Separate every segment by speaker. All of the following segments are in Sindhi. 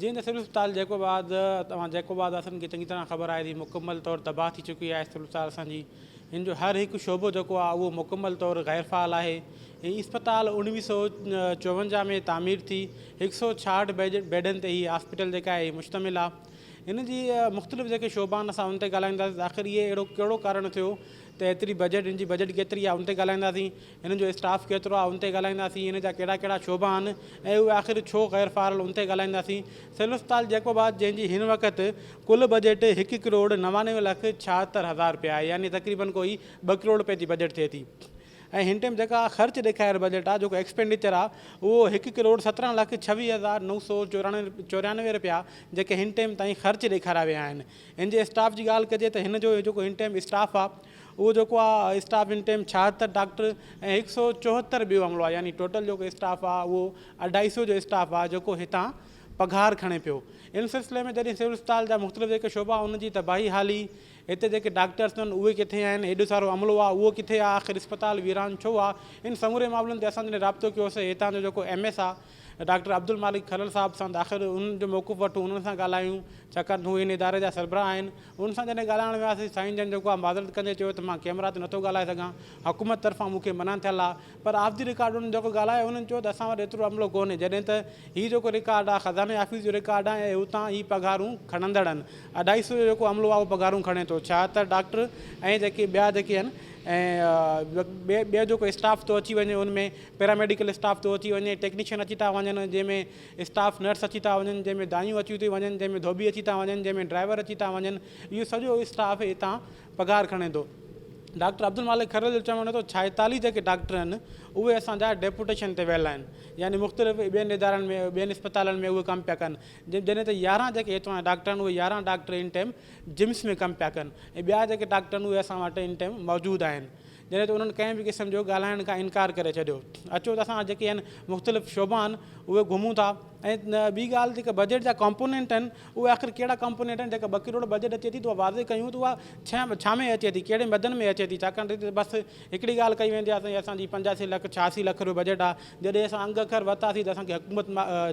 Speaker 1: جيئن ته سول اسپتال جيڪوب آباد اوهان جيڪوب آباد واسين کي چڱي طرح خبر آهي ته هي مڪمل طور تباهه ٿي چڪي آهي سول اسپتال اسان جي هن جو هر هڪ شعبو جيڪو آهي اهو مڪمل طور غير فعال آهي هي اسپتال اوڻويهه سؤ چوونجاهه ۾ تعمير ٿي هڪ سؤ ڇاهٺ بيڊن تي هي هاسپيٽل جيڪا آهي هي مشتمل آهي ان جي مختلف جيڪي شعبا آهن اسان ان تي ڳالهائينداسين آخر اهي اهڙو ڪهڙو ڪارڻ ٿيو ته ايتري بجيٽ ان جي بجيٽ ڪيتري آهي ان تي ڳالهائينداسين هن جو اسٽاف ڪيترو آهي ان تي ڳالهائينداسين، ان جا ڪهڙا ڪهڙا شعبا آهن ۽ اهي آخر ڇو غير فعال ان تي ڳالهائينداسين، سول اسپتال جيڪب آباد جنهن جي هن وقت ڪل بجيٽ هڪ ڪروڙ نوانوي لک ڇاهتر هزار رپيا آهي يعني تقريبن ڪوئي ٻه ڪروڙ رپين جي بجيٽ ٿئي ٿي ۽ هن ٽيم جيڪا خرچ ڏيکاريل بجيٽ آهي جيڪو ايڪسپينڊيچر آهي اهو هڪ ڪروڙ سترهن لک ڇويهه هزار نو سو چوريانوي رپيا جيڪي هن ٽيم تائين خرچ ڏيکاريا ويا آهن ان جي اسٽاف جي ڳالهه ڪجي ته هن جو جيڪو هن ٽيم اسٽاف آهي اهو جيڪو آ اسٽاف ان ٽيم ڇاهتر ڊاڪٽر ۽ هڪ سئو چوهتر ٻيو عملو آ يعني ٽوٽل جيڪو اسٽاف آ اهو اڍائي سئو جو اسٽاف آ جيڪو هتان پگهار کڻي پيو ان سلسلي ۾ جڏهن سول اسپتال جا مختلف جيڪي شعبا ان جي ته بهي حالي هتي جيڪي ڊاڪٽرس اٿن اهي ڪٿي آهن ايڏو سارو عملو آ اهو ڪٿي آ آخر اسپتال ويران ڇو آ ان سموري معاملن تي اسان جڏهن رابطو ڪيوسي هتان جو جيڪو ايم ايس آ ڊاڪٽر عبدالمالڪ کلل صاحب سان آخر انهن جو موقف وٺون انهن سان ڳالهايون ڇاڪاڻ ته هو هن اداري جا سربراهه آهن انهن سان جڏهن ڳالهائڻ وياسي سائين جن جيڪو آ معذرت ڪندي چيو ته مان ڪيمرا تي نٿو ڳالهائي سگهان حڪومت طرفان مون کي منع ٿيل آ پر آف دي رڪارڊ انهن جيڪو ڳالهايو انهن چيو ته اسان وٽ ايترو عملو ڪونهي جڏهن ته هي جيڪو رڪارڊ آ خزاني آفيس جو رڪارڊ آ ۽ اتان هي پگهارون کڻندڙن اڍائي سو جو جيڪو عملو آ اهو پگهارون کڻي ٿو ڇا ته ڊاڪٽر ۽ جيڪي ٻيا جيڪي آهن ۽ ٻيو جيڪو اسٽاف ٿو اچي وڃي ان ۾ پيراميڊيڪل اسٽاف ٿو اچي وڃي، ٽيڪنيشن اچي ٿا وڃن، جنهن ۾ اسٽاف نرس اچي ٿا وڃن، جنهن ۾ دايون اچيون ٿيون وڃن، جنهن ۾ ڌوٻي اچي ٿا وڃن، جنهن ۾ ڊرائيور اچي ٿا وڃن، اهو سڄو اسٽاف هتان پگهار کڻي ٿو. ڊاڪٽر عبدالمالڪ کهڙيل جو چوڻ هو ته ڇائيتاليهه جيڪي ڊاڪٽر آهن اهي اسان جا ڊيپوٽيشن تي ويل آهن يعني مختلف ٻين ادارن ۾ ٻين اسپتالن ۾ اهي ڪم پيا ڪن جڏهن ته يارهن جيڪي هتان جا ڊاڪٽر آهن اهي يارهن ڊاڪٽر ان ٽائيم جمس ۾ ڪم پيا ڪن ۽ ٻيا جيڪي ڊاڪٽر آهن اهي اسان وٽ ان ٽائيم موجود آهن جڏهن ته انهن ڪنهن به قسم جو ڳالهائڻ کان انڪار ڪري ڇڏيو. اچو ته اسان وٽ جيڪي هن مختلف شعبا آهن اهي گهمون ٿا ۽ ٻي ڳالهه جيڪي بجيٽ جا ڪمپونينٽ آهن اهي آخر ڪهڙا ڪمپونينٽ آهن جيڪا ٻه ڪروڙ بجيٽ اچي ٿي ته اها واضح ڪيون ته اها ڇا ۾ اچي ٿي ڪهڙي مدن ۾ اچي ٿي ڇاڪاڻ ته هتي ته بس هڪڙي ڳالهه ڪئي ويندي آهي سائين اسان جي پنجاسي لک ڇهاسي لک روپيه بجيٽ آهي جڏهن اسان انگ اکر ورتاسي ته اسان کي حڪومت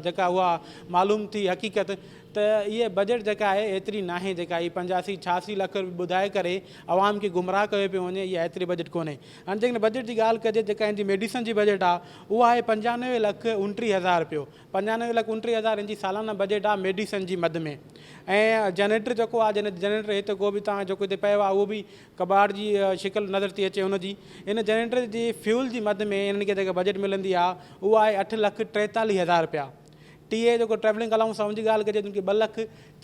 Speaker 1: جيڪا اها معلوم ٿي حقيقت ته اهي بجيٽ جيڪا آهي ايتري ناهي جيڪا هي پنجاسي ڇهاسي لک روپيه ٻڌائي ڪري عوام کي گمراهه ڪيو پيو وڃي اها ايتري بجيٽ ڪونهي هاڻي جيڪڏهن بجيٽ جي ڳالهه ڪجي جيڪا هن جي ميڊيسن جي بجيٽ آهي اها آهي پنجانوي لک اڻٽيهه هزار رپيو پنجانوي لک اڻٽيهه هزار هن جي سالانه بجيٽ آهي ميڊيسن جي مد ۾ ۽ جنريٽر جيڪو آهي جنهن جنريٽر هت ڪو به تان جيڪو هتي پيو آهي اهو به ڪٻاٽ جي شڪل نظر ٿي اچي هن جي ان جنريٽر جي فيول جي مد ۾ هنن کي جيڪا بجيٽ ملندي آهي اها آهي اٺ لک ٽيتاليهه هزار رپيا ٽي اي جيڪو ٽريولنگ الاونس آهي ان جي ڳالهه ڪجي ته ان کي ٻه لک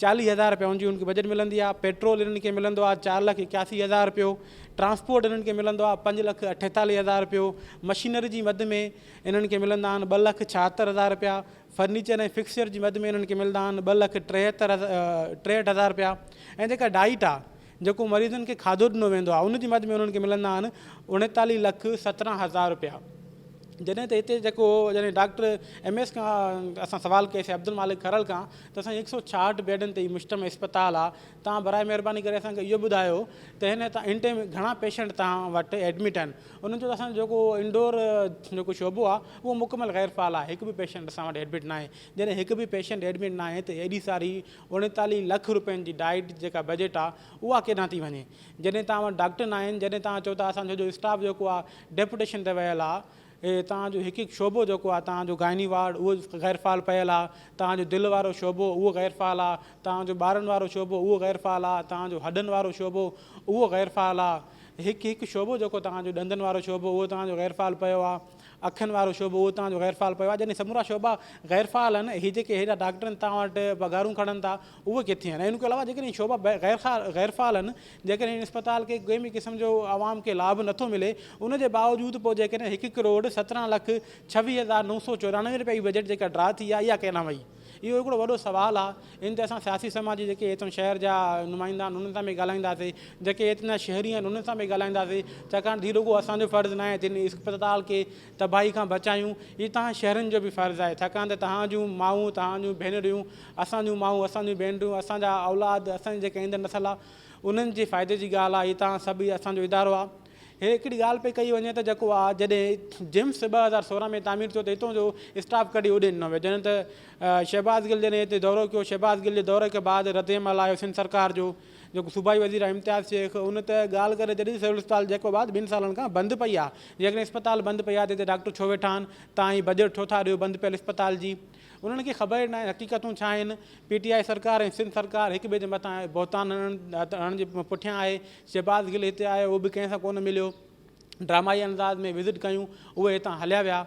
Speaker 1: چاليهه هزار رپيا ان جي ان کي بجيٽ ملندي آهي پيٽرول انهن کي ملندو آهي چار لک اڪياسي هزار رپيو ٽرانسپورٽ انهن کي ملندو آهي پنج لک اٺيتاليهه هزار رپيو مشينري جي مد ۾ انهن کي ملندا آهن ٻه لک ڇاهتر هزار رپيا فرنيچر ۽ فڪسچر جي مد ۾ انهن کي ملندا آهن ٻه لک ٽيهتر ٽيهٺ هزار رپيا ۽ جيڪا ڊائيٽ آهي جيڪو مريضن کي کاڌو ڏنو ويندو آهي ان جي مد ۾ انهن کي ملندا آهن اڻيتاليهه لک سترهن هزار رپيا جڏهن ته هتي جيڪو جڏهن ڊاڪٽر ايم ايس کان اسان سوال ڪيسي عبدالمالڪ کرل کان ته اسان هڪ سؤ ڇاهٺ بيڊن تي هي مشتمل اسپتال آهي تان برائي مهرباني ڪري اسان کي اهو ٻڌايو ته هن تان ان ٽائم گهڻا پيشنٽ تان وٽ ايڊمٽ آهن انهن چيو ته اسان جيڪو انڊور جيڪو شعبو آهي اهو مڪمل غير فعال آهي هڪ به پيشنٽ اسان وٽ ايڊمٽ ناهي جڏهن هڪ به پيشنٽ ايڊمٽ ناهي ته ايڏي ساري اڻيتاليهه لک روپين جي ڊائيٽ جيڪا بجيٽ آ اها ڪيڏانهن ٿي وڃي جڏهن توهان وٽ ڊاڪٽر ناهن جڏهن توهان چئو ٿا اسان جو جو اسٽاف جيڪو آ ڊيپوٽيشن تي ويل آ توهان جو هڪ هڪ شعبو جيڪو آ توهان جو گائني وارڊ اهو غير فعال پيل آ توهان جو دل وارو شعبو اهو غير فعال آ توهان جو ٻارن وارو شعبو اهو غير فعال آ توهان جو هڏن وارو شعبو اهو غير فعال آ هڪ هڪ شعبو جيڪو توهان جو ڏندن وارو شعبو اهو توهان جو غير فعال پيو آ. اکين وارو شعبو اهو توهان جو غير فعال پيو آهي جڏهن سمورا شعبا غير فعال آهن هي جيڪي هيڏا ڊاڪٽر آهن توهان وٽ پگهارون کڻن ٿا اهي ڪٿي آهن ۽ ان کان علاوه جيڪڏهن شعبا غير فعال آهن جيڪڏهن هن اسپتال کي ڪنهن به قسم جو عوام کي لاڀ نٿو ملي ان جي باوجود پوء جيڪڏهن هڪ ڪروڙ سترهن لک ڇويهه هزار نو سو چورانوي رپيا جي بجيٽ جيڪا ڊرا ٿي آهي اها ڪيڏانهن وئي اهو هڪڙو وڏو سوال آ ان تي اسان سياسي سماج جي جيڪي ايتن شهر جا نمائندا آهن انهن سان به ڳالهائينداسي جيڪي ايتنا شهري آهن انهن سان به ڳالهائينداسي ڇاڪاڻ ته هي رڳو اسان جو فرض ناهي تن اسپتال کي تباهي کان بچايون هي تهان شهرين جو به فرض آهي ڇاڪاڻ ته تهان جون مائون تهان جون ڀينريون اسان جون مائون اسان جون ڀينريون اسان جا اولاد اسان جي جيڪي ايندڙ نسل آ انهن جي فائدي جي ڳالهه آ هي تهان سڀ هي اسان جو ادارو آ هي هڪڙي ڳالهه پئي ڪئي وڃي ته جيڪو آء جڏهن جيمس ٻه هزار سورهن ۾ تعمير ٿيو ته هتون جو اسٽاف ڪڍي اڏي ڏنو ويو جڏهن ته شهباز گل جڏهن هتي دورو ڪيو شهباز گل جي دوري کي بعد ردعمل آيو سنڌ سرڪار جو جيڪو صوبائي وزير آهي امتياز شيخ ان ته ڳالهه ڪري جڏهن سول اسپتال جيڪو بعد ٻن سالن کان بند پئي آهي جيڪڏهن اسپتال بند پئي آهي ته هتي ڊاڪٽر ڇو ويٺا آهن تان هي بجيٽ ڇو ٿا ڏيو بند پيل اسپتال جي انهن کي خبر ئي ناهي حقيقتون ڇا آهن، پي ٽي آء سرڪار ۽ سنڌ سرڪار هڪ ٻئي جي مٿان بهتان هڻڻ جي پٺيان آهي، شهباز گل هتي آيو اهو به ڪنهن سان ڪونه مليو، ڊرامائي انداز ۾ وزٽ ڪيون اهي هتان هليا ويا،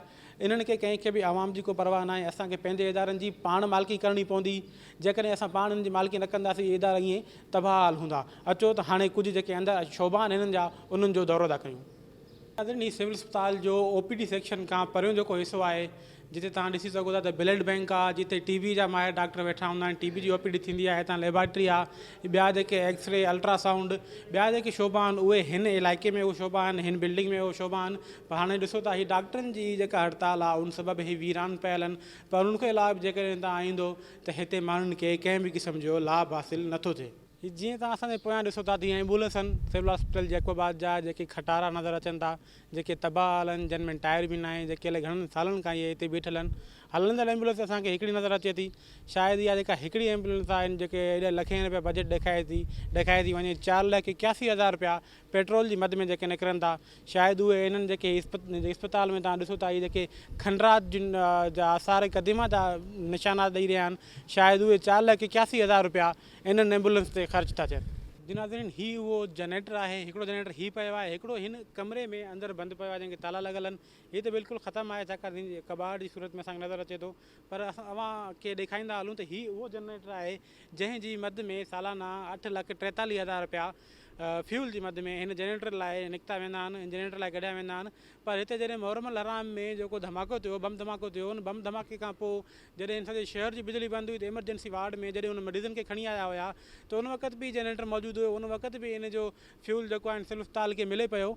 Speaker 1: انهن کي ڪنهن کي به عوام جي ڪو پرواهه ناهي، اسان کي پنهنجي ادارن جي پاڻ مالڪي ڪرڻي پوندي، جيڪڏهن اسان پاڻ انهن جي مالڪي نه ڪنداسين اهي ادارا ائين تباهه حال هوندا، اچو ته هاڻي ڪجهه جيڪي اندر شعبا آهن هنن جا انهن جو دورو ٿا ڪيون. آدرڻي سول اسپتال جو او پي ڊي سيڪشن کان پريون جيڪو حصو آهي جتي توهان ڏسي سگهو ٿا ته بلڊ بئنڪ آ جتي ٽي بي جا ماهر ڊاڪٽر ويٺا هوندا آهن ٽي بي جي او پي ڊي ٿيندي آهي هتان ليبارٽري آ ٻيا جيڪي ايڪس ري الٽرا سائونڊ ٻيا جيڪي شعبا آهن اهي هن علائقي ۾ اهي شعبا آهن هن بلڊنگ ۾ اهي شعبا آهن پر هاڻي ڏسو ته هي ڊاڪٽرن جي جيڪا هڙتال آ ان سبب هي ويران پيل آهن پر ان کان علاوه به جيڪڏهن تان ايندو ته هتي ماڻهن کي ڪنهن به قسم جو لاڀ حاصل نٿو ٿئي هي جيئن توهان اسان جي پويان ڏسو ٿا ته هي ايمبولينس آهن سول هاسپيٽل جيڪب آباد جا جيڪي کٽارا نظر اچن ٿا جيڪي تباهه حال آهن جن ۾ ٽائر به ناهي جيڪي الائي گهڻن سالن کان اهي هتي بيٺل آهن هلندڙ ايمبولينس اسان کي هڪڙي نظر اچي ٿي شايد اها جيڪا هڪڙي ايمبولينس آهن جيڪي ايڏا لکين رپيا بجيٽ ڏيکاري ٿي ڏيکاري ٿي وڃي چار لک اڪياسي هزار رپيا پيٽرول جي مد ۾ جيڪي نڪرن ٿا شايد اهي انهن جيڪي اسپتال ۾ توهان ڏسو ٿا اهي جيڪي کنڊرات جا آثار قديمه جا نشانات ڏئي رهيا آهن شايد اهي چار لک اڪياسي هزار رپيا انهن ايمبولينس تي خرچ ٿا ٿين. جي ناظرين هي اهو جنريٽر آهي هڪڙو جنريٽر هي پيو آهي هڪڙو هن ڪمري ۾ اندر بند پيو آهي جنهن کي تالا لڳل آهن هي ته بلڪل ختم آهي ڇاڪاڻ ته هن ڪٻاٽ جي صورت ۾ اسان کي نظر اچي ٿو پر اسان اوهان کي ڏيکاريندا هلون ته هي اهو جنريٽر آهي جنهن جي مد ۾ سالانه اٺ لک ٽيتاليهه هزار رپيا فيول جي مد ۾ هن جنريٽر لاء نڪتا ويندا آهن هن جنريٽر لاء ڪڍيا ويندا آهن پر هتي جڏهن محرم الحرام ۾ جيڪو ڌماڪو ٿيو بم ڌماڪو ٿيو ان بم ڌماڪي کان پوء جڏهن هن سڄي شهر جي بجلي بند هئي ته ايمرجنسي وارڊ ۾ جڏهن هن مريضن کي کڻي آيا هيا ته ان وقت به جنريٽر موجود هيو ان وقت به ان جو فيول جيڪو آهي سول اسپتال کي ملي پيو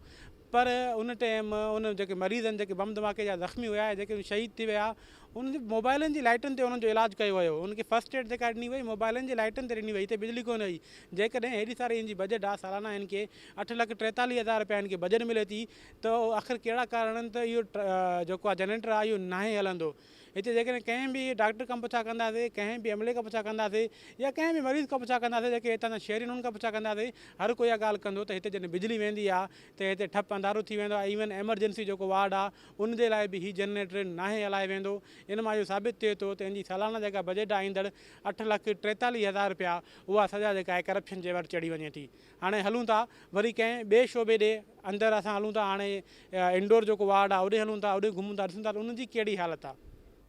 Speaker 1: پر ان ٽيم ان جيڪي مريض آهن جيڪي بم ڌماڪي جا زخمي هيا يا جيڪي شهيد ٿي ويا انهن جي موبائلن جي لائٽن تي انهن جو علاج ڪيو ويو انهن کي فرسٽ ايڊ جيڪا ڏني وئي موبائلن جي لائٽن تي ڏني وئي هتي بجلي ڪونه هئي جيڪڏهن هيڏي ساري هن جي بجيٽ آهي سالانه هن کي اٺ لک ٽيتاليهه هزار رپيا هن کي بجيٽ ملي ٿي ته آخر ڪهڙا ڪارڻ آهن ته اهو جيڪو آهي جنريٽر آهي اهو ناهي هلندو هتي جيڪڏهن ڪنهن به ڊاڪٽر کان پڇا ڪنداسين، ڪنهن به ايم ايل اي کان پڇا ڪنداسين يا ڪنهن به مريض کان پڇا ڪنداسين جيڪي هتان جا شهري انهن کان پڇا ڪنداسين هر ڪو اها ڳالهه ڪندو ته هتي جڏهن بجلي ويندي آهي ته هتي ٺپ انڌارو ٿي ويندو آهي ايون ايمرجنسي جيڪو وارڊ آهي ان جي لاء به هي جنريٽر ناهي هلائي ويندو ان مان اهو ثابت ٿئي ٿو ته ان جي سالانه جيڪا بجيٽ آهي ايندڙ اٺ لک ٽيتاليهه هزار رپيا اها سزا جيڪا آهي ڪرپشن جي ور چڙهي وڃي ٿي هاڻي هلون ٿا وري ڪنهن ٻئي شعبي ڏي اندر اسان هلون ٿا هاڻي انڊور جيڪو وارڊ آهي اوڏي هلون ٿا اوڏي گهمون ٿا ڏسون ٿا ته ان جي ڪهڙي حالت آهي.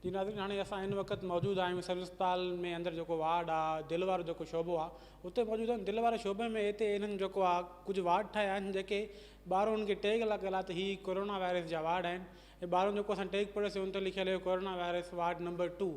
Speaker 1: جي ناظرين هاڻي اسان هن وقت موجود آهيون سول اسپتال ۾ اندر جيڪو وارڊ آهي دل وارو جيڪو شعبو آهي اتي موجود آهيون دل واري شعبي ۾ هتي انهن جيڪو آهي ڪجهه وارڊ ٺاهيا آهن جيڪي ٻاهرون ان کي ٽيگ لڳل آهي ته هي ڪورونا وائرس جا وارڊ آهن هي ٻارهون جيڪو اسان ٽيگ پڙهيوسي ان تي لکيل هيو corona virus ward number two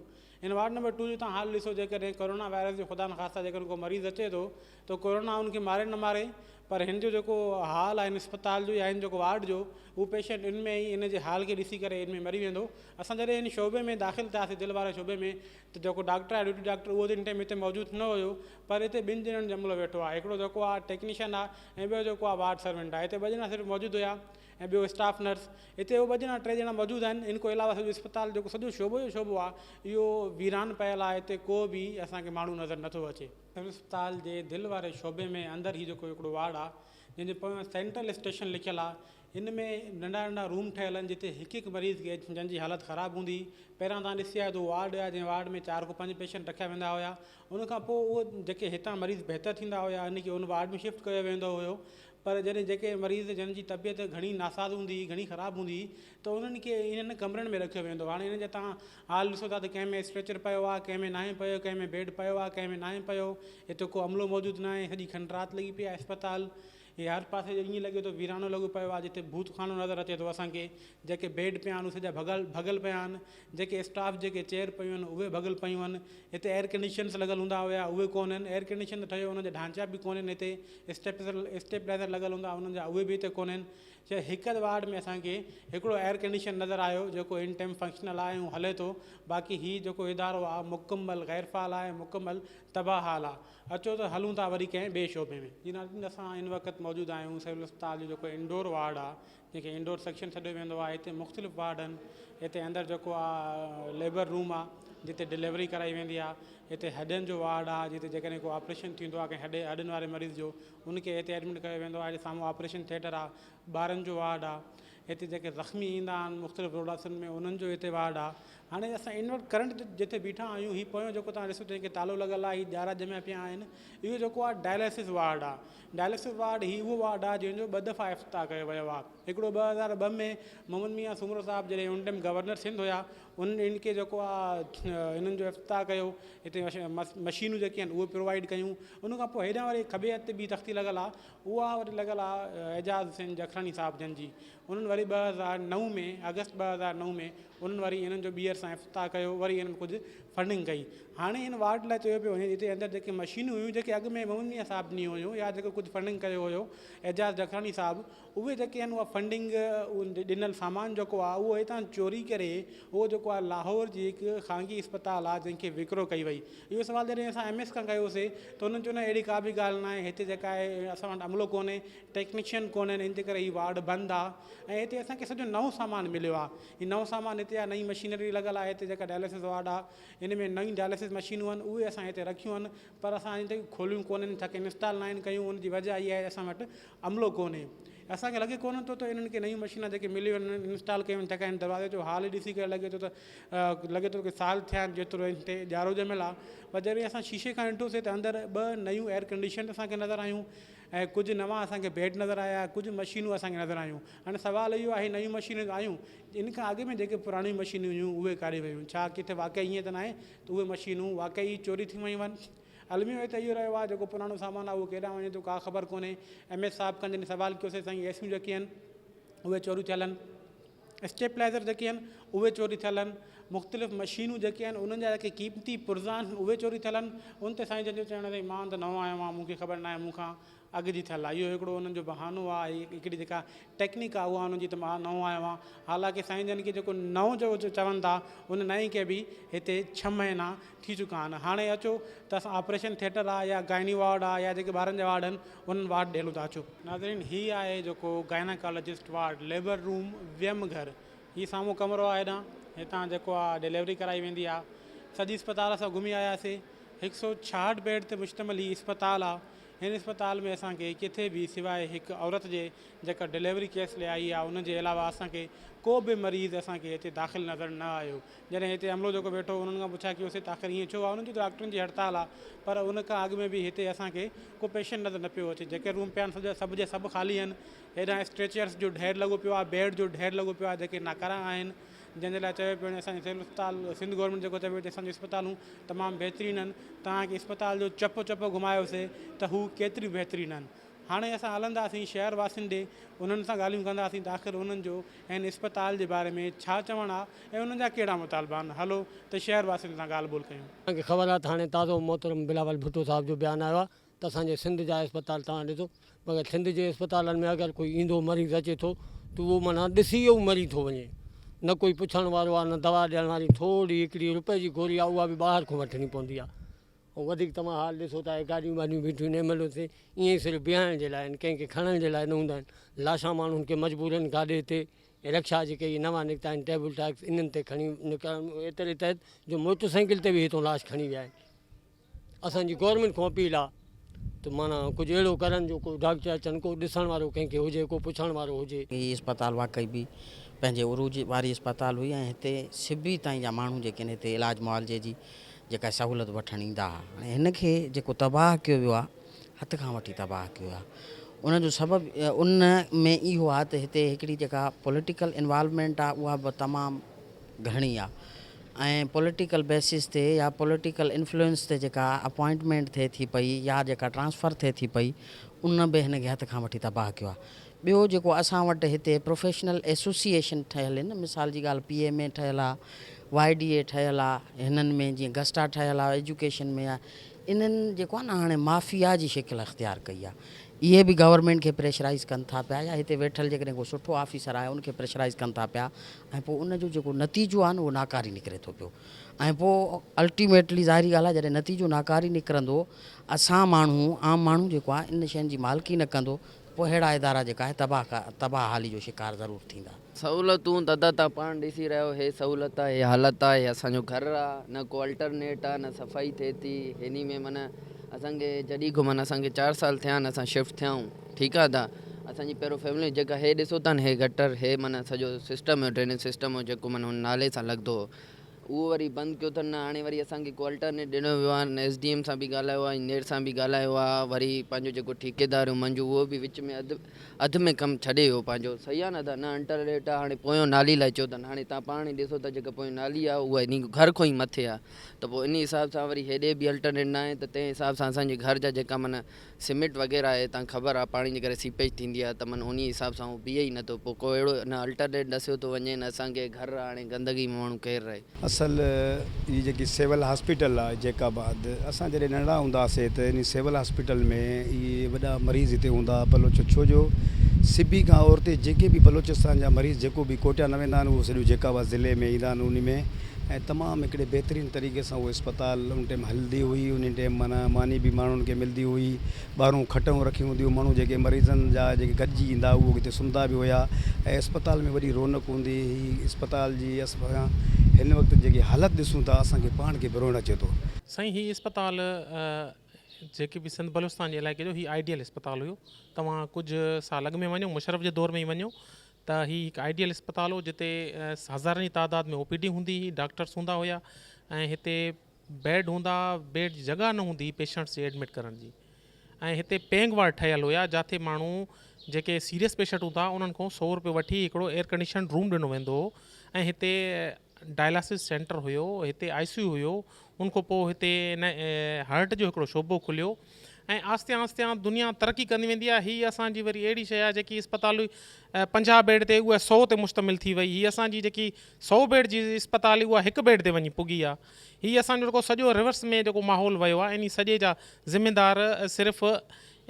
Speaker 1: ان وارڊ نمبر ٽو جو تهان حال ڏسو جيڪڏهن ڪورونا وائرس جو خدا نخواسته جيڪڏهن ڪو مريض اچي ٿو ته ڪورونا ان کي ماري نه ماري پر هن جو جيڪو حال آهي ان اسپتال جو يا هن جيڪو وارڊ جو اهو پيشنٽ ان ۾ ئي ان جي حال کي ڏسي ڪري ان ۾ مري ويندو اسان جڏهن ان شعبي ۾ داخل ٿياسي دل واري شعبي ۾ ته جيڪو ڊاڪٽر آهي ڊيوٽي ڊاڪٽر اهو ان ٽائيم هتي موجود نه هيو پر هتي ٻن ڄڻن جو عملو ويٺو آهي هڪڙو جيڪو آهي ٽيڪنيشن آهي ۽ ٻيو جيڪو آهي وارڊ سرونٽ آهي هتي ٻه ڄڻا صرف موجود هيا ۽ ٻيو اسٽاف نرس هتي هو ٻه ڄڻا ٽي ڄڻا موجود آهن ان کان علاوه سڄو اسپتال جيڪو سڄو شعبو جو شعبو آهي اهو ويران پيل آهي هتي ڪو به اسان کي ماڻهو نظر نٿو اچي. سول اسپتال جي دل واري شعبي ۾ اندر هي جيڪو هڪڙو وارڊ آهي جنهن جي پويان سينٽرل اسٽيشن لکيل آهي ان ۾ ننڍا ننڍا روم ٺهيل آهن جتي هڪ هڪ مريض کي جنهن جي حالت خراب هوندي پهريان توهان ڏسي آيا ته وارڊ آهي جنهن وارڊ ۾ چار کان پنج پيشنٽ رکيا ويندا هيا ان کان پوء اهي جيڪي هتان مريض بهتر ٿيندا هيا ان کي ان وارڊ ۾ شفٽ ڪيو ويندو هيو پر جڏهن جيڪي مريض جن جي طبيعت گهڻي ناساز هوندي، گهڻي خراب هوندي ته انهن کي انهن ڪمرن ۾ رکيو ويندو هو. هاڻي انهن جا توهان حال ڏسو ٿا ته ڪنهن ۾ اسٽريچر پيو آهي، ڪنهن ۾ ناهي پيو، ڪنهن ۾ بيڊ پيو آهي، ڪنهن ۾ ناهي پيو، اتي ڪو عملو موجود ناهي، سڄي کنڊ رات لڳي پئي آهي اسپتال هي هر پاسي جو ائين لڳي ٿو ويرانو لڳو پيو آهي جتي ڀوت خانو نظر اچي ٿو اسان کي، جيڪي بيڊ پيا آهن اهي سڄا ڀڳل ڀڳل پيا آهن، جيڪي اسٽاف جي ڪي چيئر پيون آهن اهي ڀڳل پيون آهن هتي ايئر ڪنڊيشنس لڳل هوندا هيا اهي ڪونهن ايئر ڪنڊيشن ته ٺهيو انهن جا ڍانچا به ڪونهن هتي اسٽيپسر اسٽيبلائزر لڳل هوندا انهن جا اهي به هتي ڪونهن چي هڪ اڌ وارڊ ۾ اسان کي هڪڙو ايئر ڪنڊيشن نظر آيو جيڪو ان ٽائيم فنڪشنل آهي ۽ هلي ٿو باقي هي جيڪو ادارو آهي مڪمل غير فعال آهي مڪمل تباهه حال آهي اچو ته هلون ٿا وري ڪنهن ٻئي شعبي ۾ جي ناظرين اسان هن وقت موجود آهيون سول اسپتال جو جيڪو انڊور وارڊ آهي جنهن کي انڊور سيڪشن سڏيو ويندو آهي هتي مختلف وارڊ آهن هتي اندر جيڪو آ ليبر روم آ جتي ڊليوري ڪرائي ويندي آ هتي هڏين جو وارڊ آ جتي جيڪڏهن ڪو آپريشن ٿيندو آ ڪنهن هڏي هڏين واري مريض جو ان کي هتي ايڊمٽ ڪيو ويندو آ هتي سامهون آپريشن ٿيٽر آ ٻارن جو وارڊ آ هتي جيڪي زخمي ايندا آهن مختلف روڊاسن ۾ انهن جو هتي وارڊ آ هاڻي اسان انورٽ ڪرنٽ جتي بيٺا آهيون هي پويون جيڪو توهان ڏسو تنهن کي تالو لڳل آ هي ڄارا ڄميا پيا آهن اهو جيڪو آ ڊائليسس وارڊ آ ڊائلسس وارڊ، هي اهو وارڊ آهي جنهن جو ٻه دفعا افتتاح ڪيو ويو آهي. هڪڙو ٻه هزار ٻه ۾ محمد ميان سومرو صاحب جڏهن ان ٽائيم گورنر سنڌ هيا انهن ان کي جيڪو آ انهن جو افتتاح ڪيو هتي مشينون جيڪي آهن اهي پرووائيڊ ڪيون ان کان پوء هيڏانهن وري کٻي هٿ تي ٻي تختي لڳل آهي اها وري لڳل آهي اعجاز حسين جکراڻي صاحب جن جي انهن وري ٻه هزار نو ۾ آگسٽ ٻه هزار نو ۾ انهن وري انهن جو ٻيهر سان افتتاح ڪيو وري انهن ڪجهه فنڊنگ ڪئي هاڻي ان وارڊ لاء چيو پيو وڃي جتي اندر جيڪي مشينون هيون جيڪي اڳ ۾ محمد ميان صاحب ڏنيون هيون يا جيڪو ڪجهه فنڊنگ ڪيو هيو اعجاز جکراڻي صاحب اهي جيڪي آهن اها فنڊنگ ڏنل سامان جيڪو آهي اهو هتان چوري ڪري اهو جيڪو آهي لاهور جي هڪ خانگي اسپتال آهي جنهن کي وڪرو ڪئي وئي اهو سوال جڏهن اسان ايم ايس کان ڪيوسي ته هن چيو نه اهڙي ڪا به ڳالهه ناهي هتي جيڪا آهي اسان وٽ عملو ڪونهي ٽيڪنيشن ڪونهن ان جي ڪري هي وارڊ بند آ ۽ هتي اسان کي سڄو نئون سامان مليو آ هي نئون سامان هتي آ نئين مشينري لڳل آ هتي جيڪا ڊائليسز وارڊ آ ان ۾ نئون ڊائليسز مشينون آهن اهي اسان هتي رکيون آهن پر اسان اڃا تائين کوليون ڪونهن ڇا ڪي انسٽال ناهن ڪيون ان جي وجه اها آهي اسان وٽ عملو ڪونهي اسان کي لڳي ڪونهن ٿو ته انهن کي نيون مشينا جيڪي مليون آهن انهن انسٽال ڪيون آهن ڇاڪاڻ دروازي جو حال ڏسي ڪري لڳي ٿو ته لڳي ٿو ته سال ٿيا آهن جيترو ان تي اجارو ڄميل آ پر جڏهن اسان شيشي کان ڏٺوسي ته اندر ٻه نيون ايئر ڪنڊيشن اسان کي نظر آيون ۽ ڪجهه نوان اسان کي بيڊ نظر آيا ڪجهه مشينون اسان کي نظر آيون هاڻي سوال اهو آهي نيون مشينون ته آيون ان کان اڳ ۾ جيڪي پراڻيون مشينون هيون اهي ڪاڏي ويون ڇا ڪٿي واقعي ائين ته ناهي ته اهي مشينون واقعي چوري ٿيون ويون آهن الميو هي ته اهو رهيو آهي جيڪو پراڻو سامان آهي اهو ڪيڏانهن وڃي ٿو ڪا خبر ڪونهي ايم ايس صاحب کان جڏهن سوال ڪيوسين سائين ايسيون جيڪي آهن اهي چوريون ٿيل آهن اسٽيپلائيزر جيڪي آهن اهي چوري ٿيل آهن مختلف مشينون جيڪي آهن انهن جا جيڪي قيمتي پرزا آهن اهي چوري ٿيل آهن ان تي سائين جن جو چوڻ آهي مان ته نئون آيو آهيان مون کي خبر ناهي مون کان اڳ جي ٿيل آهي اهو هڪڙو انهن جو بهانو آهي هڪڙي جيڪا ٽيڪنڪ آهي اها انهن جي ته مان نئون آيو آهيان حالانڪه سائين جن کي جيڪو نئون جو چون ٿا ان نئين کي به هتي ڇهه مهينا ٿي چڪا آھن ھاڻي اچو ته اسان آپريشن ٿيٽر آ يا گائني وارڊ آ يا جيڪي ٻارن جا وارڊ آھن انھن وارڊ ڏيلون ته اچو. ناظرين ھي آھي جيڪو گائناڪالاجسٽ وارڊ ليبر روم ويم گھر ھي سامھون ڪمرو آ ھيڏانھن ھتان جيڪو آ ڊليوري ڪرائي ويندي آ سڄي اسپتال اسان گھمي آياسي ھڪ سؤ ڇاھٺ بيڊ تي مشتمل ھي اسپتال آ ھن اسپتال ۾ اسان کي ڪٿي به سواء ھڪ عورت جي جيڪا ڊليوري ڪيس لي آئي آ ان جي علاوه اسان کي ڪو به مريض اسان کي ھتي داخل نظر نه آيو جڏهن هتي عملو جيڪو ويٺو هو انهن کان پڇا ڪيوسي ته آخر ائين ڇو آهي انهن چيو ته ڊاڪٽرن جي هڙتال آهي پر ان کان اڳ ۾ به هتي اسان کي ڪو پيشنٽ نظر نه پيو اچي جيڪي روم پيا آهن سڀ جا سڀ خالي آهن هيڏانهن اسٽريچرس جو ڍير لڳو پيو آهي بيڊ جو ڍير لڳو پيو آهي جيڪي ناڪارا آهن جنهن جي لاء چيو پيو وڃي اسان جي سول اسپتال سنڌ گورنمينٽ جيڪو چيو پيو وڃي اسان جون اسپتالون تمام بهترين آهن توهان کي اسپتال جو چپ چپ گهمايوسي ته هو ڪيتريون بهترين آهن هاڻي اسان هلنداسين شهر واسين ڏي، انهن سان ڳالهيون ڪنداسين ته آخر انهن جو هن اسپتال جي باري ۾ ڇا چوڻ آ ۽ انهن جا ڪهڙا مطالبا آهن، هلو ته شهر واسين سان ڳالهه ٻولهه ڪيون. اسان کي خبر آ ته هاڻي
Speaker 2: تازو محترم بلاول ڀٽو صاحب جو بيان آيو آ ته اسان جي سنڌ جا اسپتال توهان ڏسو، مگر سنڌ جي اسپتالن ۾ اگر ڪوئي ايندو مريض اچي ٿو ته اهو معنيٰ ڏسي ئي مري ٿو وڃي، نه ڪوئي پڇڻ وارو آ نه دوا ڏيڻ واري، ٿورڙي هڪڙي روپئي جي گوري آ اها به ٻاهر کان وٺڻي پوندي آ. ۽ وڌيڪ توهان حال ڏسو ته اهي گاڏيون ٻاڏيون بيٺيون نيم ملون تي ائين ئي صرف بيهائڻ جي لاء آهن، ڪنهن کي کڻڻ جي لاء نه هوندا آهن. لاشان ماڻهن کي مجبورن گاڏي تي ۽ رڪشا جيڪي هي نوان نڪتا آهن ٽيبل ٽاڪس انهن تي کڻي نڪرڻ ايتري تحت جو موٽر سائيڪل تي به هتون لاش کڻي ويا آهن. اسان جي گورنمينٽ کان اپيل آهي ته معنيٰ ڪجهه اهڙو ڪرن جو ڪو ڊاڪٽر اچن ڪو ڏسڻ وارو ڪنهن کي هجي ڪو پڇڻ وارو هجي. هي اسپتال واقعي
Speaker 3: به پنهنجي عروج واري اسپتال هئي ۽ هتي سبي تائين جا ماڻهو جيڪي آهن هتي علاج معالجي جي جيڪا سهولت وٺڻ ايندا ها. هاڻي هن کي جيڪو تباهه ڪيو ويو آهي، هٿ کان وٺي تباهه ڪيو ويو آهي. ان جو سبب ان ۾ اهو آهي ته هتي هڪڙي جيڪا پوليٽيڪل انوالومينٽ آهي اها به تمام گهڻي آهي ۽ پوليٽيڪل بيسز تي يا پوليٽيڪل انفلوئنس تي جيڪا اپوائنٽمينٽ ٿئي ٿي پئي يا جيڪا ٽرانسفر ٿئي ٿي پئي ان به هن کي هٿ کان وٺي تباهه ڪيو آهي. ٻيو جيڪو اسان وٽ هتي پروفيشنل ايسوسيئيشن ٺهيل ان مثال جي ڳالهه پي ايم اي ٺهيل آ وائي ڊي اي ٺهيل آ هنن ۾ جيئن گسٽا ٺهيل آ ايجوڪيشن ۾ انهن جيڪو آ نه هاڻي مافيا جي شڪل اختيار ڪئي آ اهي به گورنمينٽ کي پريشرائيز ڪن ٿا پيا يا هتي ويٺل جيڪڏهن ڪو سٺو آفيسر آهي ان کي پريشرائيز ڪن ٿا پيا ۽ پوء ان جو جيڪو نتيجو آ نه اهو ناڪاري نڪري ٿو پيو ۽ پوء الٽيميٽلي ظاهري ڳالهه آ جڏهن نتيجو ناڪاري نڪرندو اسان ماڻهو عام ماڻهو جيڪو آ ان شين جي مالڪي نه ڪندو پوء اهڙا ادارا جيڪا آهي تباهه تباهه حالي جو شڪار ضرور ٿيندا. سهولتون دادا
Speaker 4: توهان پاڻ ڏسي رهيا آهيو هي سهولت آ هي حالت آ هي اسان جو گهر آ نه ڪو الٽرنيٽ آ نه صفائي ٿئي ٿي هيني ۾ معنيٰ اسان کي جڏي کان معنيٰ اسان کي چار سال ٿيا آهن اسان شفٽ ٿيا آهون ٺيڪ آ دا اسان جي پهريون فيملي جيڪا هي ڏسو ٿا نه هي گٽر هي معنيٰ سڄو سسٽم هو ڊرينيج سسٽم هو جيڪو معنيٰ هن نالي سان لڳندو هو اهو وري بند ڪيو اٿن نه هاڻي وري اسان کي ڪو الٽرنيٽ ڏنو ويو آهي نه ايس ڊي ايم سان به ڳالهايو آهي ۽ نير سان به ڳالهايو آهي وري پنهنجو جيڪو ٺيڪيدار هو منجو اهو به وچ ۾ اڌ اڌ ۾ ڪم ڇڏي ويو پنهنجو صحيح آهي نه ادا نه انٽرنيٽ آهي هاڻي پويون نالي لاء چيو اٿن هاڻي تان پاڻ ئي ڏسو ٿا جيڪا پويون نالي آهي اها انهي گهر کون ئي مٿي آهي ته پوء انهي حساب سان وري هيڏي به الٽرنيٽ نه آهي ته تنهن حساب سان اسان جي گهر جا جيڪا معنيٰ سميٽ وغيره آهي تان خبر آ پاڻي جي ڪري سيپيج ٿيندي آ ته من انهي حساب سان هو پيئي ئي نه ٿو پو ڪو اهڙو نه الٽرنيٽ ڏسيو ٿو وڃي نه اسان کي گهر آ هاڻي گندگي ۾ ماڻهو ڪير رهي. اصل
Speaker 5: هي جيڪي سول هاسپيٽل آ جيڪ آباد اسان جڏهن ننڍڙا هوندا سي ته انهي سول هاسپيٽل ۾ اهي وڏا مريض هتي هوندا ها بلوچ ڇو جو سبي کان اورتي جيڪي به بلوچستان جا مريض جيڪو به ڪوئٽه نه ويندا آهن اهو سڄو جيڪ آباد ضلعي ۾ ايندا آهن انهي ۾ ۽ تمام هڪڙي بهترين طريقي سان اهو اسپتال ان ٽيم هلندي هئي انهي ٽيم معنيٰ ماني به ماڻهن کي ملدي هئي ٻاهرون کٽون رکي هوندي هئي ماڻهو جيڪي مريضن جا جيڪي گڏجي ايندا اهو اتي سمهندا به هيا ۽ اسپتال ۾ وڏي رونق هوندي هئي اسپتال جي هن وقت جيڪي حالت ڏسون ٿا اسان کي پاڻ کي به روئڻ اچي ٿو. سائين هي اسپتال
Speaker 6: جيڪي به سنڌ بلوچستان جي علائقي جو هي آئيڊيل اسپتال هيو توهان ڪجھ سال اڳ ۾ وڃو مشرف جي دور ۾ ئي وڃو ته هي هڪ آئيڊيل اسپتال هو جتي هزارن جي تعداد ۾ او پي ڊي هوندي هي ڊاڪٽرس هوندا هيا ۽ هتي بيڊ هوندا بيڊ جي جڳهه نه هوندي هي پيشنٽس جي ايڊمٽ ڪرڻ جي ۽ هتي پينگ وارڊ ٺهيل هيا جاٿي ماڻهو جيڪي سيريس پيشنٽ هوندا انهن کان سو روپيو وٺي هڪڙو ايئر ڪنڊيشن روم ڏنو ويندو هو ۽ هتي ڊائلاسس سينٽر هيو هتي آئي سي يو هيو ان کان پوء هتي ان هرٽ جو هڪڙو شعبو کليو ۽ آهستي آهستي دنيا ترقي ڪندي ويندي آهي هي اسان جي وري اهڙي شئي آهي جيڪي اسپتال هئي پنجاهه بيڊ تي اها سؤ تي مشتمل ٿي وئي هي اسان جي جيڪي سؤ بيڊ جي اسپتال هئي اها هڪ بيڊ تي وڃي پڳي آهي هي اسان جو جيڪو سڄو ريورس ۾ جيڪو ماحول ويو آهي انهي سڄي جا ذميدار صرف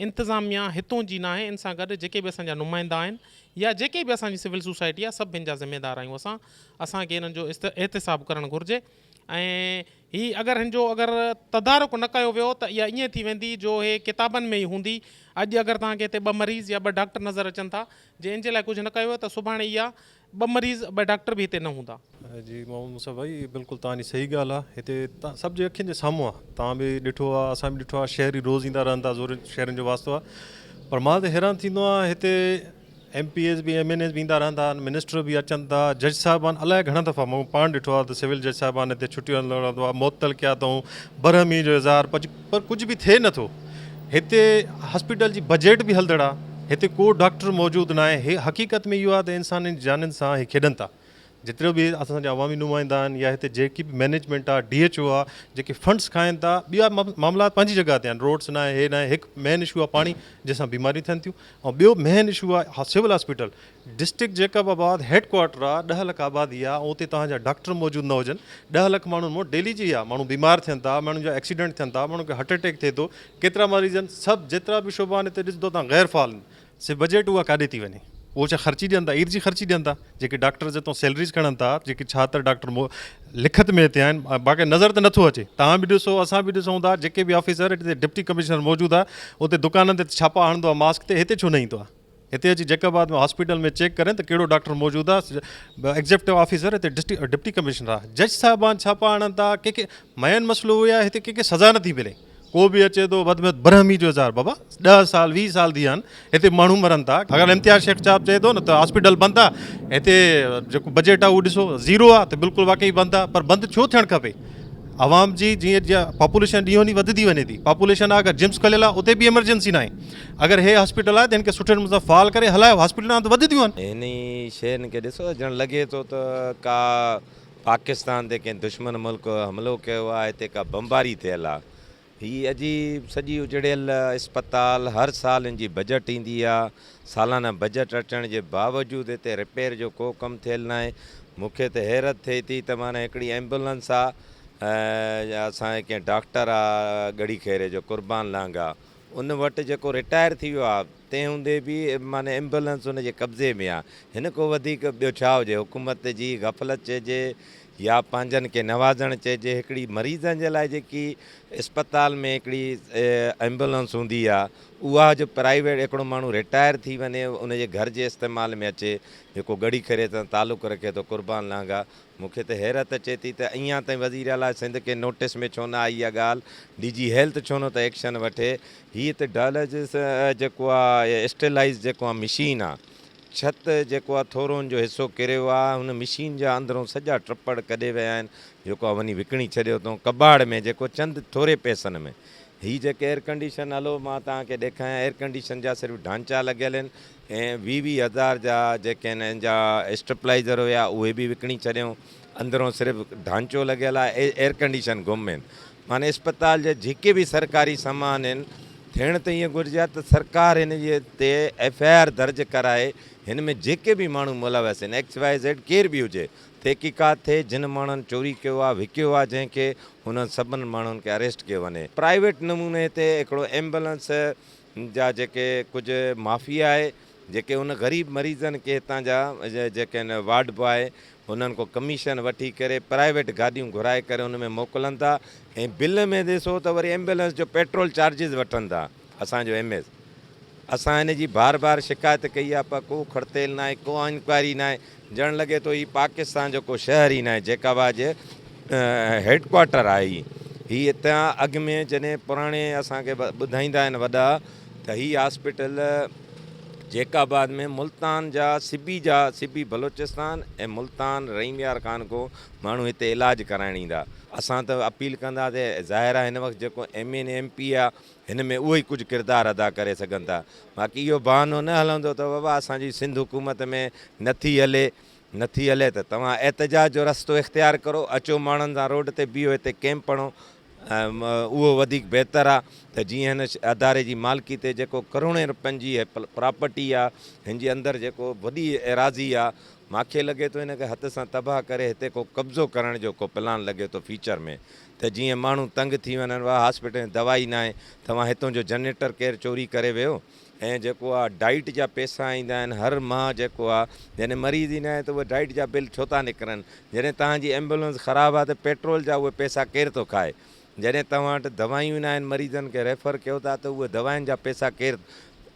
Speaker 6: انتظاميا هتون جي ناهي ان سان گڏ جيڪي به اسان جا نمائندا آهن يا جيڪي به اسان جي سول سوسائٽي آهي سڀ هن جا ذميدار آهيون اسان اسان کي انهن جو احتساب ڪرڻ گهرجي. ۽ هي اگر هن جو اگر تدارڪ نه ڪيو ويو ته اها ائين ٿي ويندي جو هي ڪتابن ۾ ئي هوندي. اڄ اگر توهان کي هتي ٻه مريض يا ٻه ڊاڪٽر نظر اچن ٿا جي ان جي لاء ڪجهه نه ڪيو ويو ته سڀاڻي اها ٻه مريض ٻه ڊاڪٽر به هتي نه هوندا. جي محمد مصعب
Speaker 7: ڀائي هي بلڪل توهان جي صحيح ڳالهه آهي هتي سڀ جي اکين جي سامهون آهي توهان به ڏٺو آهي اسان به ڏٺو آهي شهري روز ايندا رهن ٿا زورين شهرين جو واسطو آهي پر مان ته حيران ٿيندو آهيان هتي ايم پي ايز به ايم اين ايز به ايندا رهندا آهن منسٽر به اچن ٿا جج صاحبان الاء گهڻا دفعا مون پاڻ ڏٺو آهي ته سول جج صاحبان هتي ڇٽيون هلندو رهندو آهي معطل ڪيا اٿئون برهمي جو اظهار پر ڪجهه به ٿئي نه ٿو هتي هاسپيٽل جي بجيٽ به هلدڙ آهي هتي ڪو ڊاڪٽر موجود نه آهي حقيقت ۾ اهو آهي ته انسانن جي جانين سان هي کيڏن ٿا جيترو به اسان جا عوامي نمائندا آهن يا هتي جيڪي به مئنيجمينٽ آ ڊي ايڇ او آ جيڪي فنڊس کائن ٿا ٻيا معاملات پنهنجي جڳهه تي آهن روڊس ناهي هي ناهي هڪ مين اشو آ پاڻي جنهن سان بيماريون ٿين ٿيون ۽ ٻيو مين اشو آ civil hospital district Jacobabad head quarter آ ڏهه لک آبادي آ اتي توهان جا ڊاڪٽر موجود نه هجن ڏهه لک ماڻهن مون ڊيلي جي آ ماڻهو بيمار ٿين ٿا ماڻهن جا ايڪسيڊنٽ ٿين ٿا ماڻهن کي هارٽ اٽيڪ ٿئي ٿو ڪيترا مريض آهن سڀ جيترا به شعبا آهن هتي ڏسندو توهان غير فعال سي بجيٽ اها ڪاڏي ٿي وڃي؟ اهو ڇا خرچي ڏين ٿا؟ اير جي خرچي ڏين ٿا؟ جيڪي ڊاڪٽر جتو سيلريز کڻن ٿا، جيڪي ڇاتر ڊاڪٽر مون لکت ۾ هتي آهن، باقي نظر ته نٿو اچي. توهان به ڏسو، اسان به ڏسون ٿا، جيڪي به آفيسر هتي ڊپٽي ڪمشنر موجود آهي، اتي دڪانن تي ڇاپا هڻندو آهي ماسڪ تي، هتي ڇو نه ايندو آهي؟ هتي اچي جيڪب آباد ۾ هاسپيٽل ۾ چيڪ ڪرين ته ڪهڙو ڊاڪٽر موجود آهي؟ ايگزيڪٽو آفيسر هتي ڊپٽي ڪمشنر آهي. جج صاحبان ڇاپا هڻن ٿا، ڪي ڪي مئن مسئلو اهو آهي هتي ڪي ڪي سزا نٿي ملي. ڪو به اچي ٿو وڌ ۾ وڌ برهمي جو اظهار بابا ڏهه سال ويهه سال ٿي ويا آهن هتي ماڻهو مرن ٿا اگر امتياز شيخ صاحب چئي ٿو نه ته هاسپيٽل بند آ هتي جيڪو بجيٽ آ اهو ڏسو زيرو آ ته بلڪل واقعي بند آ پر بند ڇو ٿيڻ کپي عوام جي جيئن جيئن پاپوليشن ڏينهون ڏينهن وڌندي وڃي ٿي پاپوليشن آ اگر جمس کليل آ اتي به ايمرجنسي ناهي اگر هي هاسپيٽل آ ته هن کي سٺي نموني سان فعال ڪري هلايو هاسپيٽلون آهن ته وڌنديون آهن هنئي شين کي
Speaker 8: ڏسو ڄڻ لڳي ٿو ته ڪا پاڪستان تي ڪنهن دشمن ملڪ حملو ڪيو آ هتي ڪا بمباري ٿيل آ هي عجيب سڄي اجڙيل اسپتال هر سال ان جي بجٽ ايندي آ سالانه بجٽ اچڻ جي باوجود هتي رپيئر جو ڪو ڪم ٿيل ناهي مونکي ته حيرت ٿئي ٿي ته معنيٰ هڪڙي ايمبولنس آ يا اسان جي ڪنهن ڊاڪٽر آ ڳڙهي خيري جو قربان لانگاهه ان وٽ جيڪو رٽائر ٿي ويو آهي، تنهن هوندي به معني ايمبولنس ان جي قبضي ۾ آهي. هن کان وڌيڪ ٻيو ڇا هجي؟ حڪومت جي غفلت چئجي يا پنهنجن کي نوازڻ چئجي، هڪڙي مريضن جي لاء جيڪي اسپتال ۾ هڪڙي ايمبولنس هوندي آهي، اها جو پرائيويٽ هڪڙو ماڻهو رٽائر ٿي وڃي، ان جي گهر جي استعمال ۾ اچي، جيڪو ڳڙهي کريت سان تعلق رکي ٿو، قربان لانگاهه، مون کي ته حيرت اچي ٿي ته اڃان تائين وزيراعليٰ سنڌ کي نوٽس ۾ ڇو نه آئي اها ڳالهه، ڊي جي هيلٿ ڇو نٿو ايڪشن وٺي، هيء ته ڊائلسز جيڪو آ يا اسٽيلائيز جيڪو آ مشين آ، ڇت جيڪو آ ٿورون جو حصو ڪريو آ، هن مشين جا اندرون سڄا ٽپڙ ڪڍي ويا آهن، جيڪو آ وڃي وڪڻي ڇڏيو اٿئون ڪٻاڙ ۾ جيڪو چند ٿوري پئسن ۾ هي جيڪي ايئرڪنڊيشن هلو مان توهان کي ڏيکايان ايئرڪنڊيشن جا صرف ڍانچا لڳيل آهن، ۽ ويهه ويهه هزار جا جيڪي هنن جا اسٽيپلائيزر هيا اهي به وڪڻي ڇڏيائون اندرون صرف ڍانچو لڳيل آهي ايئرڪنڊيشن گم آهن معني اسپتال جا جيڪي به سرڪاري سامان آهن ٿيڻ ته ايئن گهرجي ها ته سرڪار هن جي تي ايف آء آر درج ڪرائي هن ۾ جيڪي به ماڻهو ملوث آهن ايڪس واء زيڊ ڪير به هجي تحقيقات ٿئي جن ماڻهن چوري ڪيو آهي وڪيو آهي جنهن کي انهن سڀن ماڻهن کي اريسٽ ڪيو وڃي پرائيويٽ نموني تي هڪڙو ايمبولنس جا جيڪي ڪجهه معافي آهي جيڪي ان غريب مريضن کي هتان جا جيڪي آهن وارڊ باء انهن کان ڪميشن وٺي ڪري پرائيويٽ گاڏيون گهرائي ڪري ان ۾ موڪلن ٿا ۽ بل ۾ ڏسو ته وري ايمبولينس جو پيٽرول چارجز وٺن ٿا اسان جو ايم ايس اسان ان جي بار بار شڪايت ڪئي آهي پر ڪو کڙتيل ناهي ڪو انڪوائري ناهي ڄڻ لڳي ٿو هي پاڪستان جو ڪو شهر ئي ناهي جيڪابا جي هيڊ ڪوارٽر آهي هي هي اتان اڳ ۾ جڏهن پراڻي اسان کي ٻڌائيندا آهن وڏا ته هي هاسپيٽل جيڪاباد ۾ ملتان جا سبي جا سبي بلوچستان ۽ ملتان رحيم يار خان کو ماڻهو هتي علاج ڪرائڻ ايندا اسان ته اپيل ڪنداسي ظاهر آهي هن وقت جيڪو ايم اين ايم پي آهي هن ۾ اهي ئي ڪجهه ڪردار ادا ڪري سگهن ٿا. باقي اهو بهانو نه هلندو ته بابا اسان جي سنڌ حڪومت ۾ نه ٿي هلي، نه ٿي هلي ته توهان احتجاج جو رستو اختيار ڪرو، اچو ماڻهن سان روڊ تي بيهو، هتي ڪئمپ پڻو، اهو وڌيڪ بهتر آ ته جيئن هن اداري جي مالڪي تي جيڪو ڪروڙين رپين جي هي پراپرٽي آ، هن جي اندر جيڪو وڏي ايراضي آ، ماکي لڳي ٿو هن کي هٿ سان تباهه ڪري هتي ڪو قبضو ڪرڻ جو ڪو پلان لڳي ٿو فيوچر ۾. ته جيئن ماڻهو تنگ ٿي وڃن وا هاسپيٽل ۾ دوا ئي ناهي توهان هتون جو جنريٽر ڪير چوري ڪري ويو ۽ جيڪو آ ڊائيٽ جا پيسا ايندا آهن هر ماه جيڪو آ جڏهن مريض ئي ناهي ته اهي ڊائيٽ جا بل ڇو ٿا نڪرن جڏهن توهان جي ايمبولنس خراب آ ته پيٽرول جا اهي پيسا ڪير ٿو کائي جڏهن توهان وٽ دوائيون ئي ناهن مريضن کي ريفر ڪيو ٿا ته اهي دوائن جا پيسا ڪير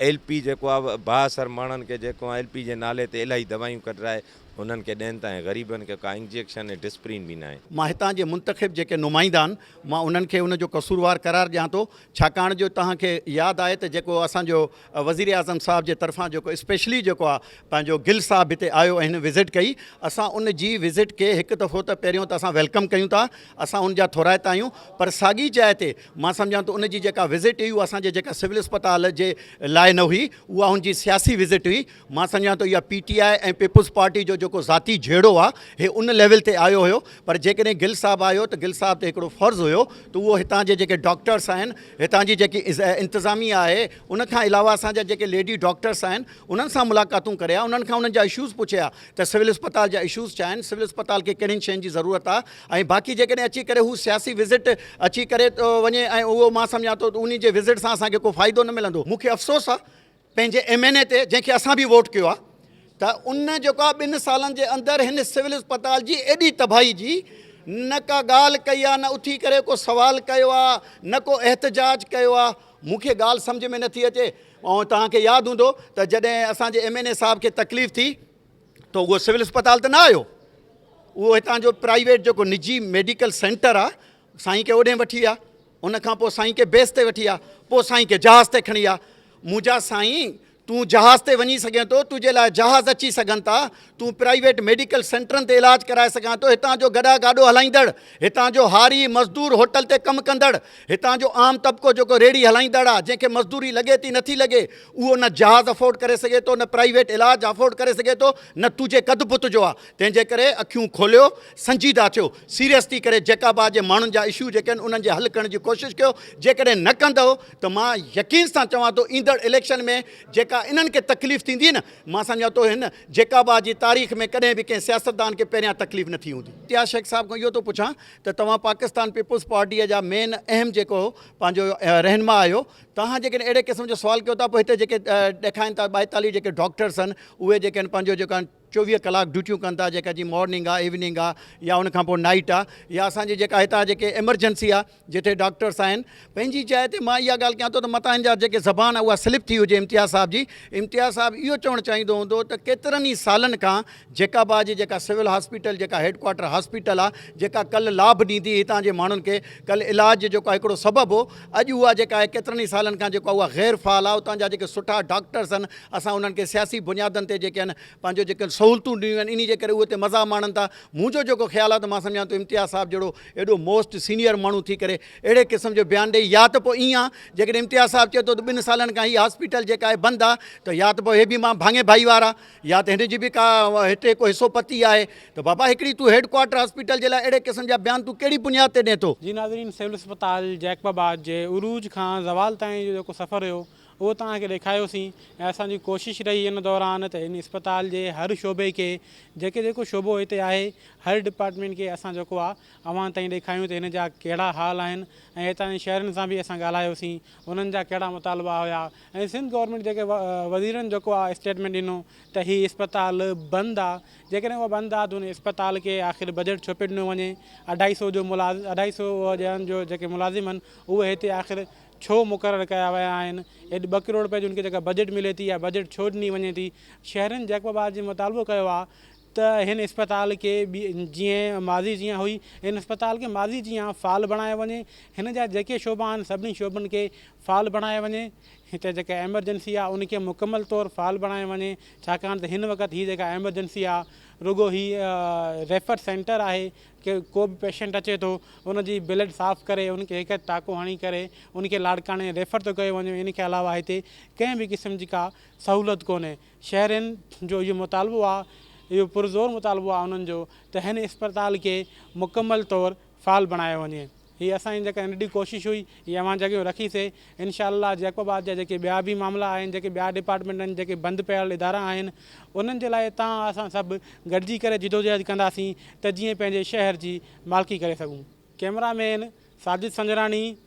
Speaker 8: ايل پي جيڪو آ بااثر ماڻهن کي جيڪو آ ايل پي جي نالي تي الاهي دوائيون ڪڍرائي انهن کي ڏين ٿا ۽ غريبن کي ڪا انجيڪشن ۽ ڊسپرين به ناهي. مان هتان جي منتخب
Speaker 9: جيڪي نمائندا آهن مان انهن کي ان جو قصوروار قرار ڏيان ٿو ڇاڪاڻ جو توهان کي ياد آهي ته جيڪو اسان جو وزير اعظم صاحب جي طرفان جيڪو اسپيشلي جيڪو آ پنهنجو گل صاحب هتي آيو ۽ هن وزٽ ڪئي اسان ان جي وزٽ کي هڪ دفعو ته پهريون ته اسان ويلڪم ڪيون ٿا اسان ان جا ٿورائتا آهيون پر ساڳي جاء تي مان سمجهان ٿو ان جي جيڪا وزٽ هئي اها اسان جي جيڪا سول اسپتال جي لاء نه هئي اها ان جي سياسي وزٽ هئي مان سمجهان ٿو اها P T I ۽ People's Party جو جيڪو ذاتي جهيڙو آهي هي ان ليول تي آيو هيو پر جيڪڏهن گل صاحب آيو ته گل صاحب تي هڪڙو فرض هيو ته اهو هتان جي جيڪي ڊاڪٽرس آهن هتان جي جيڪي انتظاميه آهي ان کان علاوه اسان جا جيڪي ليڊي ڊاڪٽرس آهن انهن سان ملاقاتون ڪري ها انهن کان انهن جا اشوز پڇي ها ته سول اسپتال جا اشوز ڇا آهن سول اسپتال کي ڪهڙين شين جي ضرورت آهي ۽ باقي جيڪڏهن اچي ڪري هو سياسي وزٽ اچي ڪري ٿو وڃي ۽ اهو مان سمجهان ٿو ته انهي جي وزٽ سان اسان کي ڪو فائدو نه ملندو مون کي افسوس آهي پنهنجي ايم اين اي تي جنهن کي اسان به ووٽ ڪيو آهي ته ان جيڪو آهي ٻن سالن جي اندر هن سول اسپتال جي ايڏي تباهي جي نه ڪا ڳالهه ڪئي آهي نه اٿي ڪري ڪو سوال ڪيو آهي نه ڪو احتجاج ڪيو آهي مون کي ڳالهه سمجهه ۾ نٿي اچي ۽ توهان کي ياد هوندو ته جڏهن اسان جي ايم اين اي صاحب کي تڪليف ٿي ته اهو سول اسپتال ته نه آيو اهو هتان جو پرائيويٽ جيڪو نجي ميڊيڪل سينٽر آهي سائين کي اوڏهين وٺي ويا ان کان پوء سائين کي بيس تي وٺي ويا پوء سائين کي جهاز تي کڻي ويا منهنجا سائين تون جهاز تي وڃي سگهين ٿو تنهنجي لاء جهاز اچي سگهن ٿا تون پرائيويٽ ميڊيڪل سينٽرن تي علاج ڪرائي سگهان ٿو هتان جو گڏا گاڏو هلائيندڙ هتان جو هاري مزدور هوٽل تي ڪم ڪندڙ هتان جو عام طبقو جيڪو ريڙي هلائيندڙ آ جنهن کي مزدوري لڳي ٿي نٿي لڳي اهو نه جهاز افورڊ ڪري سگهي ٿو نه پرائيويٽ علاج افورڊ ڪري سگهي ٿو نه تنهنجي قد بت جو آ تنهنجي ڪري اکيون کوليو سنجيده ٿيو سيريس ٿي ڪري جيڪاب آء جي ماڻهن جا اشو جيڪي آهن انهن جي حل ڪرڻ جي ڪوشش ڪيو جيڪڏهن نه ڪندئو ته مان يقين سان چوان ٿو ايندڙ اليڪشن ۾ جيڪا انهن کي تڪليف ٿيندي نه مان سمجهان ٿو هن جيڪاب آء جي تاريخ ۾ ڪڏهن به ڪنهن سياستدان کي پهريان تڪليف نه ٿي هوندي. امتياز شيخ صاحب کان اهو ٿو پڇان ته توهان پاڪستان پيپلز پارٽيء جا مين اهم جيڪو پنهنجو رهنما آهيو توهان جيڪڏهن اهڙي قسم جو سوال ڪيو ٿا پوء هتي جيڪي ڏيکائن ٿا ٻائيتاليهه جيڪي ڊاڪٽرس آهن اهي جيڪي آهن پنهنجو جيڪو آهن چوويهه ڪلاڪ ڊيوٽيون ڪن ٿا جيڪا جي مارننگ آ ايوننگ آ يا ان کان پوء نائيٽ آ يا اسان جي جيڪا هتان جيڪي ايمرجنسي آ جتي ڊاڪٽرس آهن پنهنجي جاء تي مان اها ڳالهه ڪيان ٿو ته متان هن جا جيڪي زبان آ اها سلپ ٿي هجي امتياز صاحب جي امتياز صاحب اهو چوڻ چاهيندو هوندو ته ڪيترن ئي سالن کان جيڪابا جي جيڪا سول هاسپيٽل جيڪا هيڊ ڪوارٽر هاسپيٽل آ جيڪا ڪل لاڀ ڏيندي هتان جي ماڻهن کي ڪل علاج جيڪو آ هڪڙو سبب هو اڄ اها جيڪا آهي ڪيترن ئي سالن کان جيڪو آهي اها غير فعال آهي اتان جا جيڪي سٺا ڊاڪٽرس آهن اسان انهن کي سياسي بنيادن تي جيڪي آهن پنهنجو جيڪي سهولتون ڏنيون آهن انهي جي ڪري اهي اتي مزا ماڻن ٿا منهنجو جيڪو خيال آهي ته مان سمجهان ٿو امتياز صاحب جهڙو ايڏو موسٽ سينيئر ماڻهو ٿي ڪري اهڙي قسم جو بيان ڏئي يا ته پوء ايئن جيڪڏهن امتياز صاحب چئي ٿو ته ٻن سالن کان هي هاسپيٽل جيڪا آهي بند آهي ته يا ته پوء هي به مان ڀاڱي ڀائيوار آهي يا ته هن جي به ڪا هتي ڪو حصو پتي آهي ته بابا هڪڙي تون هيڊ ڪوارٽر هاسپيٽل جي لاء اهڙي قسم جا بيان تون ڪهڙي بنياد تي ڏين ٿو. جي ناظرين سول اسپتال
Speaker 1: جيڪب آباد جي عروج کان زوال تائين جو جيڪو سفر هيو اهو توهان کي ڏيکاريوسين ۽ اسان جي ڪوشش رهي ان دوران ته هن اسپتال جي هر شعبي کي جيڪي جيڪو شعبو هتي آهي هر ڊپارٽمينٽ کي اسان جيڪو آ اوهان تائين ڏيکاريون ته هن جا ڪهڙا حال آهن ۽ هتان جي شهرين سان به اسان ڳالهايوسين انهن جا ڪهڙا مطالبا هيا ۽ سنڌ گورنمينٽ جيڪي وزيرن جيڪو آ اسٽيٽمينٽ ڏنو ته هي اسپتال بند آ جيڪڏهن اهو بند آ ته ان اسپتال کي آخر بجيٽ ڇو پي ڏنو وڃي اڍائي سو جو ملازم اڍائي سو ڄڻن جو جيڪي ملازم آهن اهي هتي آخر ڇو مقرر ڪيا ويا آهن ايٽ ٻه ڪروڙ رپيا جو ان کي جيڪا بجيٽ ملي ٿي اها بجيٽ ڇو ڏني وڃي ٿي شهرين جيڪب آباد جي مطالبو ڪيو آ ته هن اسپتال کي جيئن ماضي جيان هئي هن اسپتال کي ماضي جيان فعال بڻايو وڃي هن جا جيڪي شعبا آهن سڀني شعبن کي فعال بڻايو وڃي هتي جيڪا ايمرجنسي آهي ان کي مڪمل طور فعال بڻايو وڃي ڇاڪاڻ ته هن وقت هي جيڪا ايمرجنسي آهي رڳو هي ريفر سينٽر آهي ڪي ڪو به پيشنٽ اچي ٿو ان جي بلڊ صاف ڪري ان کي هڪ ٽاڪو هڻي ڪري ان کي لاڙڪاڻي ريفر ٿو ڪيو وڃي ان کي علاوه هتي ڪنهن به قسم جي ڪا سهولت ڪونهي شهرين جو اهو مطالبو آهي اهو پرزور مطالبو آهي انهن جو ته هن اسپتال کي مڪمل طور فعال بڻايو وڃي هي اسان جي جيڪا ننڍي ڪوشش هئي هي اوهان جي اڳيان رکي سي انشاء الله جيڪب آباد جا جيڪي ٻيا به معاملا آهن جيڪي ٻيا ڊپارٽمينٽ آهن جيڪي بند پيل ادارا آهن انهن جي لاء توهان اسان سڀ گڏجي ڪري جدوجهد ڪنداسين ته جيئن پنهنجي شهر جي مالڪي ڪري سگهون ڪيمرا مين ساجد سنجراڻي